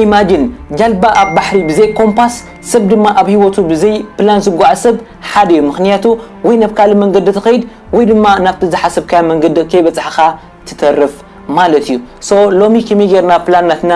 Imagine ጃልባ ኣብ ባሕሪ ብዘይ ኮምፓስ ሰብ ድማ ኣብ ሂወቱ ብዘይ ፕላን ዝጓዓዝ ሰብ ሓደ ዩ ምኽንያቱ ወይ ናብ ካልእ መንገዲ ትኸይድ ወይ ድማ ናብቲ ዝሓሰብካዮ መንገዲ ከይበጻሕኻ ትተርፍ ማለት ዩ so ሎሚ ከመይ ጌርና ፕላን ናትና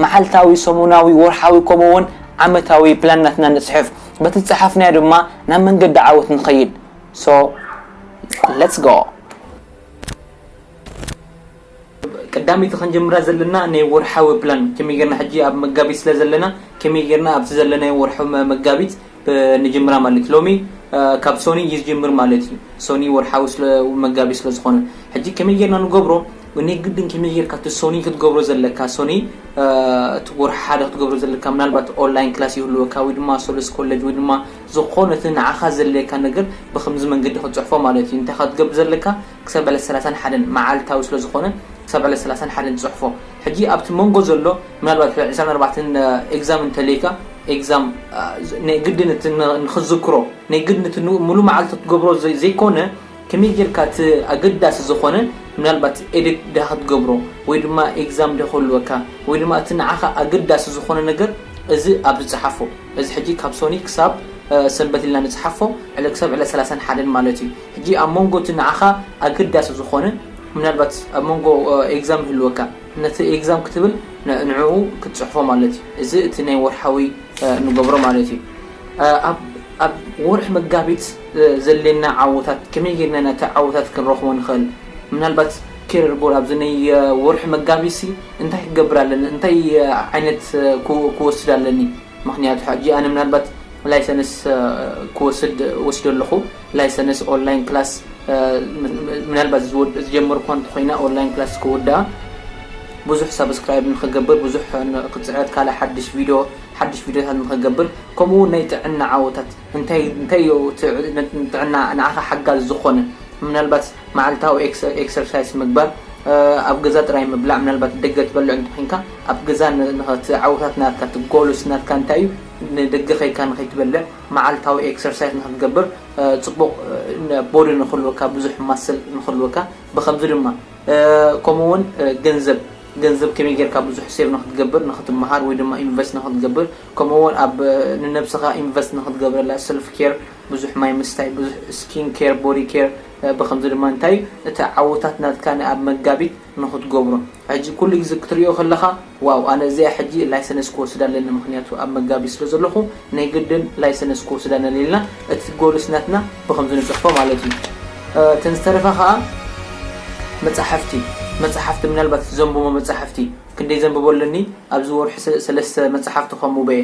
መዓልታዊ ሰሙናዊ ወርሓዊ ከምኡ ውን ዓመታዊ ፕላን ናትና ንጽሕፍ በቲ ዝጸሓፍናዮ ድማ ናብ መንገዲ ዓወት ንኸይድ so let's go ቀዳመይቲ ክንጅምራ ዘለና ናይ ወርሓዊ ፕላን ከመይ ጌርና ሕጂ ኣብ መጋቢት ስለ ዘለና ከመይ ጌርና ኣብቲ ዘለናዮ ወርሒ መጋቢት ንጅምራ ማለት ሎሚ ካብ ሶኒ ይጅምር ማለት እዩ ሶኒ ወርሓዊ ስለ መጋቢት ስለ ዝኾነ ሕጂ ከመይ ጌርና ንገብሮ ናይ ግድን ከመይ ጌርካ እቲ ሶኒ ክትገብሮ ዘለካ ሶኒ እቲ ወርሒ ሓደ ክትገብሮ ዘለካ ምናልባት ኦንላይን ክላስ ይህልወካ ወይ ድማ ሶለስ ኮለጅ ወይ ድማ ዝኾነ እቲ ንዓኻ ዘድልየካ ነገር ብከምዚ መንገዲ ክትጽሕፎ ማለት እዩ እንታይ ክትገብር ዘለካ ክሳብ ዕለት ሰላሳን ሓደን መዓልታዊ ስለ ዝኾነ ክሳብ ዕለት ሰላሳን ሓደን ጽሕፎ ሕጂ ኣብቲ መንጎ ዘሎ ምናልባት ሕጂ ዕስራን ኣርባዕተን ኤግዛም እንተልይካ ኤግዛም ናይ ግድን እቲ ንኽትዝክሮ ናይ ግድን እቲ ሙሉ መዓልቲ ክትገብሮ ዘይኮነ ከመይ ጌርካ እቲ ኣገዳሲ ዝኾነ ምናልባት ኤዲት ድኣ ክትገብሮ ወይ ድማ ኤግዛም ድኣ ክህልወካ ወይ ድማ እቲ ንዓኻ ኣገዳሲ ዝኾነ ነገር እዚ ኣብዚ ጽሓፎ እዚ ሕጂ ካብ ሶኒ ክሳብ ሰንበት ኢልና ንጽሓፎ ዕለ ክሳብ ዕለት ሰላሳን ሓደን ማለት እዩ። ሕጂ ኣብ መንጎ እቲ ንዓኻ ኣገዳሲ ዝኾነን ምናልባት ኣብ መንጎ ኤግዛም ይህልወካ ነቲ ኤግዛም ክትብል ንዕኡ ክትጽሕፎ ማለት እዩ እዚ እቲ ናይ ወርሓዊ እንገብሮ ማለት እዩ ኣብ ኣብ ወርሒ መጋቢት ዘድልየና ዓወታት ከመይ ጌርና ኢና እቲ ዓወታት ክንረኽቦ ንኽእል ምናልባት ኬርየር ጎል ኣብዚ ናይ ወርሒ መጋቢትሲ እንታይ ክገብር ኣለኒ እንታይ ዓይነት ክወስድ ኣለኒ ምኽንያቱ ሕጂ ኣነ ምናልባት ላይሰንስ ክወስድ ወሲደ ኣለኹ ላይሰንስ ኦንላይን ክላስ ምናልባት ዝጀመርኳ እንተኾይነ ኦንላይን ክላስ ክውድኣ ብዙሕ ሳብስክራይብ ንክገብር ብዙሕ ክፅዕት ካልእ ሓድሽ ቪድዮ ሓድሽ ቪድዮታት ንክገብር ከምኡ እውን ናይ ጥዕና ዓወታት እንታይ እንታይ ጥዕና ንዓኻ ሓጋዚ ዝኾነ ምናልባት መዓልታዊ ኤክሰርሳይስ ምግባር፣ ኣብ ገዛ ጥራይ ምብላዕ፣ ምናልባት ደገ ትበልዕ እንተኾይንካ ኣብ ገዛ ንኸቲ ዓወታት ናትካ እቲ ጎልስ ናትካ እንታይ እዩ ንደገ ከይካ ንኸይትበልዕ መዓልታዊ ኤክሰርሳይስ ንኽትገብር ጽቡቕ ቦዲ ንኽህልወካ ብዙሕ ማስል ንኽህልወካ ብኸምዚ ድማ ከምኡ ውን ገንዘብ ገንዘብ ከመይ ጌርካ ብዙሕ ሴቭ ንኽትገብር ንኽትመሃር ወይ ድማ ኢንቨስት ንኽትገብር ከምኡ ውን ኣብ ንነብስኻ ኢንቨስት ንኽትገብረላ ሰልፍ ኬር ብዙሕ ማይ ምስታይ፣ ብዙሕ ስኪን ኬር፣ ቦዲ ኬር ብኸምዚ ድማ እንታይ እዩ እቲ ዓወታት ናትካ ንኣብ መጋቢት ንኽትገብሮ ሕጂ ኩሉ ግዜ ክትርእዮ ከለኻ ዋው ኣነ እዚኣ ሕጂ ላይሰነስ ክወስድ ኣለኒ ምኽንያቱ ኣብ መጋቢት ስለ ዘለኹ ናይ ግድን ላይሰነስ ክወስድ ኣነለ ኢልና እቲ ጎልስ ናትና ብኸምዚ ንጽሕፎ ማለት እዩ እተን ዝተረፋ ከኣ መጻሕፍቲ መጻሕፍቲ ምናልባት እቲ ዘንብቦ መጻሕፍቲ ክንደይ ዘንብቦ ኣለኒ ኣብዚ ወርሒ ሰለስተ መጻሕፍቲ ከንብቦ እየ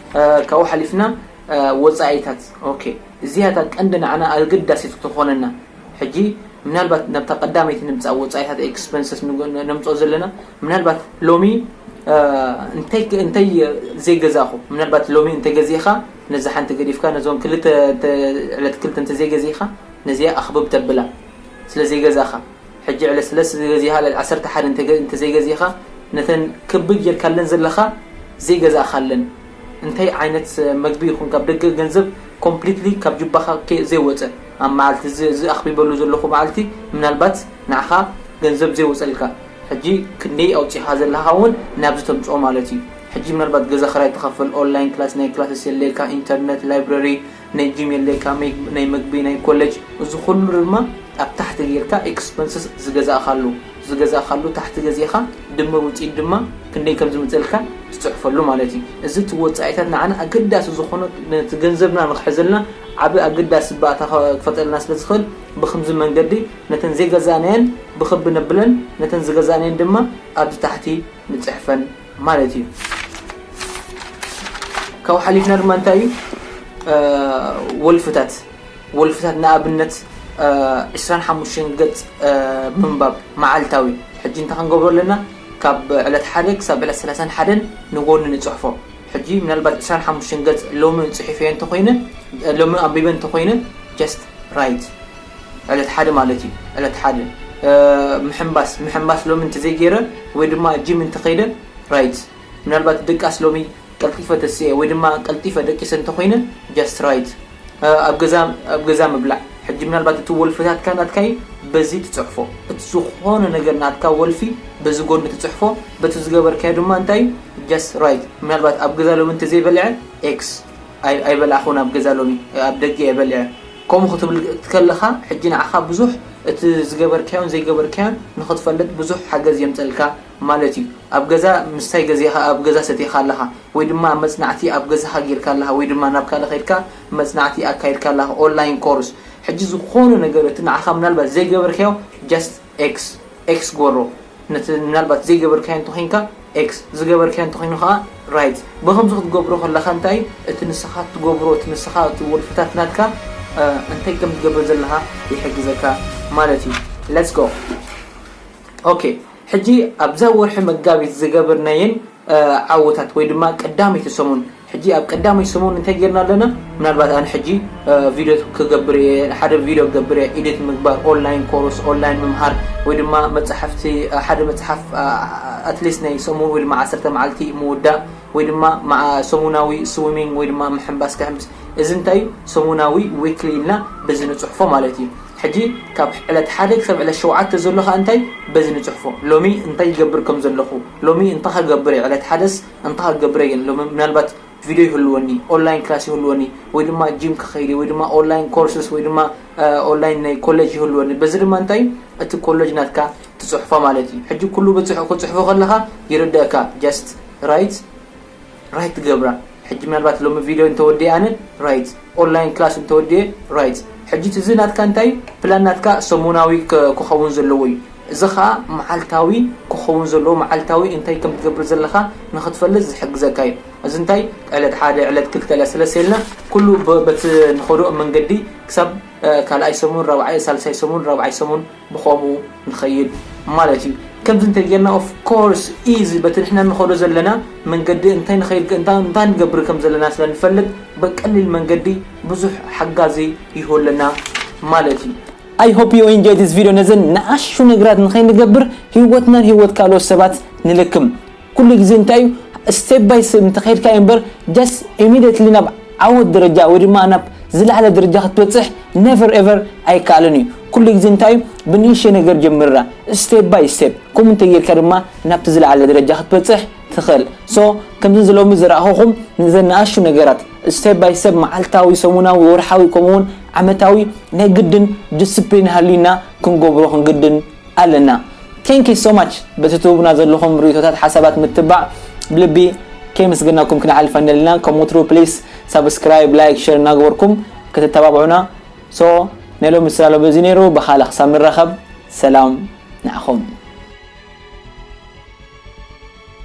ካብኡ ሓሊፍና ወጻኢታት ኦኬ እዚኣ እታ ቀንዲ ንዓና ኣገዳሲት እትኾነና ሕጂ ምናልባት ናብታ ቀዳመይቲ ንምጻእ ወጻኢታት ኤክስፐንሰስ ነምጽኦ ዘለና ምናልባት ሎሚ እንታይ እንታይ ዘይገዛእኹ ምናልባት ሎሚ እንተገዚእኻ ነዚ ሓንቲ ገዲፍካ ነዞን ክልተ ዕለት ክልተ እንተዘይገዚእኻ ነዚኣ ኣኽብብ ተብላ ስለ ዘይገዛእኻ ሕጂ ዕለስለስ ዝበዚሃ ልዕሊ ዓሰርተ ሓደ እንተዘይገዚእኻ ነተን ክብ ጌርካለን ዘለኻ ዘይገዛእኻለን እንታይ ዓይነት መግቢ ይኹን ካብ ደገ ገንዘብ ኮምፕሊትሊ ካብ ጁባኻ ዘይወጸ ኣብ መዓልቲ እዚ እዚ ኣኽቢበሉ ዘለኹ መዓልቲ ምናልባት ንዓኻ ገንዘብ ዘይወጸልካ ሕጂ ክንደይ ኣውጺእኻ ዘለኻ ውን ናብዚ ተምጽኦ ማለት እዩ ሕጂ ምናልባት ገዛ ክራይ ትኸፍል ኦንላይን ክላስ ናይ ክላሰስ የድልየካ ኢንተርነት ላይብረሪ ናይ ጂም የድልየካ ናይ መግቢ ናይ ኮለጅ እዚ ኩሉ ድማ ኣብ ታሕቲ ጌርካ ኤክስፐንስስ ዝገዛእካሉ ዝገዛእካሉ ታሕቲ ገዚእኻ ድምር ውጺኢት ድማ ክንደይ ከም ዝመጸልካ ትጽሕፈሉ ማለት እዩ እዚ እቲ ወጻኢታት ንዓና ኣገዳሲ ዝኾነ ነቲ ገንዘብና ንኽሕዘልና ዓቢ ኣገዳሲ ባእታ ክፈጥረልና ስለ ዝኽእል ብኽምዚ መንገዲ ነተን ዘይገዛእናየን ብኽቢ ነብለን ነተን ዝገዛእናየን ድማ ኣብዚ ታሕቲ ንጽሕፈን ማለት እዩ ካብኡ ሓሊፍና ድማ እንታይ እዩ ወልፍታት ወልፍታት ንኣብነት ዕስራን ሓሙሽተን ገፅ ምንባብ መዓልታዊ ሕጂ እንታይ ክንገብሮ ኣለና ካብ ዕለት ሓደ ክሳብ ዕለት ሰላሳን ሓደን ንጎኒ ንፅሕፎ ሕጂ ምናልባት ዕስራን ሓሙሽተን ገፅ ሎሚ ፅሒፈዮ እንተኮይነ ሎሚ ኣንቢበ እንተኮይነ ጀስት ራይት ዕለት ሓደ ማለት እዩ ዕለት ሓደ ምሕንባስ ምሕንባስ ሎሚ እንተዘይ ጌረ ወይ ድማ ጂም እንተኸይደ right ምናልባት ድቃስ ሎሚ ቀልጢፈ ተሲኤ ወይ ድማ ቀልጢፈ ደቂሰ እንተኾይነ just right ኣብ ገዛ ኣብ ገዛ ምብላዕ ሕጂ ምናልባት እቲ ወልፍታትካ ናትካ እዩ በዚ ትጽሕፎ እቲ ዝኾነ ነገር ናትካ ወልፊ በዚ ጎኒ ትጽሕፎ በቲ ዝገበርካዮ ድማ እንታይ እዩ just right ምናልባት ኣብ ገዛ ሎሚ እንተዘይ በሊዐ X ኣይበላዕኹን ኣብ ገዛ ሎሚ ኣብ ደገ እየ በሊዐ ከምኡ ክትብል ከለኻ ሕጂ ንዓኻ ብዙሕ እቲ ዝገበርካዮን ዘይገበርካዮን ንኽትፈልጥ ብዙሕ ሓገዝ የምጸልካ ማለት እዩ። ኣብ ገዛ ምስታይ ገዜኻ ኣብ ገዛ ሰቲኻ ኣለኻ ወይ ድማ መጽናዕቲ ኣብ ገዛኻ ጌርካ ኣለኻ ወይ ድማ ናብ ካልእ ኸይድካ መጽናዕቲ ኣካይድካ ኣለኻ online course ሕጂ ዝኾነ ነገር እቲ ንዓኻ ምናልባት ዘይገበርካዮ just ኤክስ፣ X፣ ግበሮ፣ ነቲ ምናልባት ዘይገበርካዮ እንተ ዄንካ፣ X፣ ዝገበርካዮ እንተ ዀይኑ ኸኣ፣ Right፣ ብኸምዚ ኽትገብሮ ኸለኻ እንታይ እዩ እቲ ንስኻ እትገብሮ፣ እቲ ንስኻ እቲ ወልፍታት ናትካ እንታይ ከም እትገብር ዘለኻ ይሕግዘካ ማለት እዩ። Let's go! ኦኬ፣ ሕጂ ኣብዛ ወርሒ መጋቢት ዝገበርናየን፣ ዓወታት ወይ ድማ ቀዳመይቲ ሰሙን ሕጂ ኣብ ቀዳመይቲ ሰሙን እንታይ ጌርና ኣለና ምናልባት ኣነ ሕጂ ቪድዮ ክገብር እየ ሓደ ቪድዮ ክገብር እየ ኤዲት ምግባር ኦንላይን ኮርስ ኦንላይን ምምሃር ወይ ድማ መጻሕፍቲ ሓደ መጽሓፍ ኣትሊስት ናይ ሰሙን ወይ ድማ ዓሰርተ መዓልቲ ምውዳእ ወይ ድማ ሰሙናዊ ስዊሚንግ ወይ ድማ ምሕንባስ ክሕንብስ እዚ እንታይ እዩ ሰሙናዊ ዊክሊ ኢልና በዚ ንጽሕፎ ማለት እዩ ሕጂ ካብ ዕለት ሓደ ክሳብ ዕለት ሸውዓተ ዘሎ ከኣ እንታይ በዚ ንጽሕፎ ሎሚ እንታይ ይገብር ከም ዘለኹ ሎሚ እንታ ከገብር እየ ዕለት ሓደስ እንታ ከገብር እየ ሎሚ ምናልባት ቪድዮ ይህልወኒ ኦንላይን ክላስ ይህልወኒ ወይ ድማ ጂም ክኸይድ እየ ወይ ድማ ኦንላይን ኮርስስ ወይ ድማ ኦንላይን ናይ ኮለጅ ይህልወኒ በዚ ድማ እንታይ እዩ እቲ ኮለጅ ናትካ ትጽሕፎ ማለት እዩ ሕጂ ኩሉ ክትጽሕፎ ከለኻ ይርደእካ ጀስት ራይት ራይት ትገብራ ሕጂ ምናልባት ሎሚ ቪድዮ እንተወዲኤ ኣነ ራይት ኦንላይን ክላስ እንተወዲኤ ራይት ሕጂት እዚ ናትካ እንታይ እዩ ፕላን ናትካ ሰሙናዊ ክኸውን ዘለዎ እዩ እዚ ኸኣ መዓልታዊ ክኸውን ዘለዎ መዓልታዊ እንታይ ከም ትገብር ዘለኻ ንኽትፈልጥ ዝሕግዘካ እዩ እዚ እንታይ ዕለት ሓደ ዕለት ክልተ ዕለት ሰለስተ ኢልና ኩሉ በቲ ንኸዶ መንገዲ ክሳብ ካልኣይ ሰሙን ራብዓይ ሳልሳይ ሰሙን ራብዓይ ሰሙን ብኸምኡ ንኸይድ ማለት እዩ ከምዚ እንተ ጌርና of course ኢዚ በቲ ንሕና ንኸዶ ዘለና መንገዲ እንታይ ንኸይድ እንታ እንታይ ንገብር ከም ዘለና ስለ ንፈልጥ በቀሊል መንገዲ ብዙሕ ሓጋዚ ይሁለና ማለት እዩ። I hope you enjoy this video ነዘን ንኣሽቱ ነገራት ንኸይንገብር ሂወትናን ሂወት ካልኦት ሰባት ንልክም። ኩሉ ግዜ እንታይ እዩ step by step እንተኸይድካዮ እምበር just immediately ናብ ዓወት ደረጃ ወይ ድማ ናብ ዝለዓለ ደረጃ ክትበጽሕ never ever ኣይከኣልን እዩ። ኩሉ ግዜ እንታይ እዩ ብንእሽተይ ነገር ጀምራ step by step ከምኡ እንተጌርካ ድማ ናብቲ ዝለዓለ ደረጃ ክትበጽሕ ትኽእል። so ከምዚ እዚ ሎሚ ዘርኣኹኹም ነዘን ንኣሽቱ ነገራት step by step መዓልታዊ፣ ሰሙናዊ፣ ወርሓዊ ከምኡ እውን ዓመታዊ ናይ ግድን discipline ሃልዩና ክንገብሮ ክንግድን ኣለና Thank you so much በቲ ትህቡና ዘለኹም ሪኢቶታት ሓሳባት ምትባዕ ብልቢ ከየምስገናኩም ክንሓልፍ ኣይንደልናን ከም ወትሩ please subscribe like share እናገበርኩም ክትተባብዑና so ናይ ሎሚ ስላሎ በዚ ነይሩ ብኻልእ ክሳብ ንራኸብ ሰላም ንዓኹም።